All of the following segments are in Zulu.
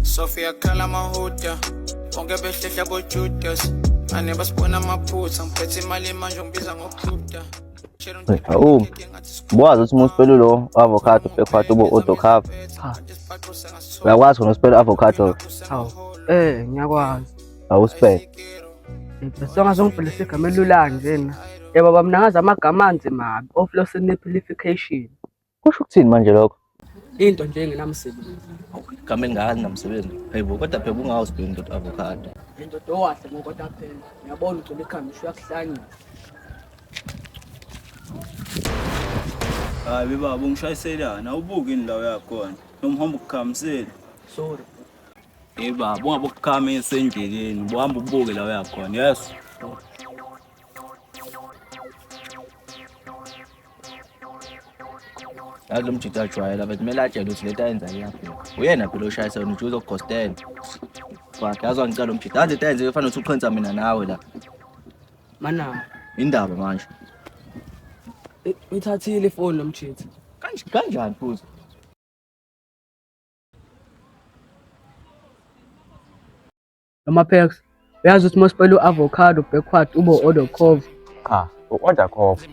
Sophia khala mahuda bonke behlehla bojudas ane basibona amaphutha ngiphethe imali manje ngibiza ngokujuda Awu, buwazi ukuthi uma uspela ulo avocado bhekwathi ube odokhava uyakwazi khona uspela avocado Hawu, eh ngiyakwazi. awuspele Songa zongibhalisa igama elula nje na. Yebo baba mina ngazi amagama anzima kabi. Oflosinipilification. Kusho ukuthini manje lokho? Into nje engenamsebenzi. Igama elingaka linamsebenzi. Hayibo kodwa phela ungawo sibheke indoda avocado. Indoda owahle ngokoda phela. Uyabona ugcwele ikhanda usho uyakuhlanya. Hayi bebaba ungishayiselana awubuki ini la uyakhona. Noma uhamba ukukhamisela. Sorry. Hey baba ungabe ukukhamisa endleleni. Uhamba ubuke la uyakhona. Yes. yazi lo mjita ajwayela but kumele atshele ukuthi lento ayenza iyabheka uyena phela oshayisa wena ujuza ukugostela fuck yazi wangicela lo mjita yazi into ayenziwe fanele ukuthi uqhensa mina nawe la Mana, indaba manje i- uyithathile ifoni lomjita. Kanj- kanjani futhi noma perks uyazi ukuthi mosipela u-avocado backward ube u-order cove cha u-order cove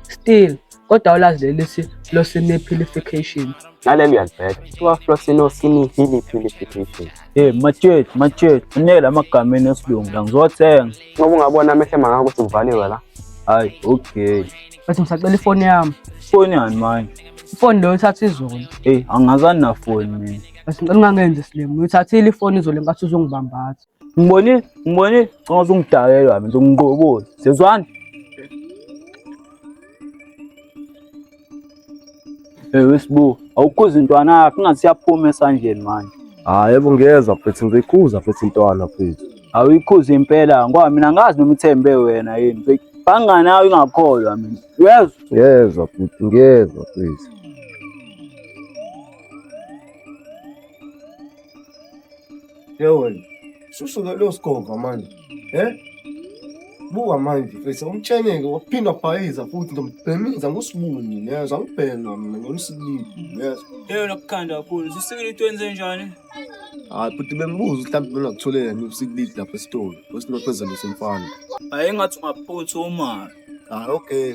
still kodwa ulazi leli si flosinipilification naleli uyalibheka kuthiwa flosinopilification Hey machurch machurch unela amagama enesilungu la ngizothenga ngoba ungabona amehlo emangaka ukuthi ngivaliwe la hayi okay Bese ngisacela ifoni yami. Foni yani manje. Ifoni leyo ithatha izolo. Ey, angazani na foni mina. Bese ngicela ungangenzi slim. Uyithathile ifoni izolo ngathi uzongibambatha. Ngibonile, ngibonile. Ngicela uzungidakela wami, uzongiqokoza. Sezwani? Eh wesibu, awukhuza intwana yakho ingathi siyaphuma esandleni manje. Hayi yebo ngiyezwa mfethu ngiyikhuza mfethu intwana mfethu. Awuyikhuza impela ngoba mina angazi noma ithembe wena yini mfethu. Bangani nawe ingakholwa mina. Uyezwa? Ngiyezwa mfethu ngiyezwa mfethu. Ye wena susuke lo sigova manje he buka manje mfethu umtsheneke waphinde wabhayiza futhi ndombhemiza ngosibuni yezwa ngibhema mina ngomsibili yezwa Leyo lokukhanda kakhulu. Sisikile into enze njani? hayi futhi bembuza ukuthi mhlawumbe bengakuthole nini usikilidi lapha esitolo osinophezulu semfana Hayi ngathi ungaphuthuma. hayi okay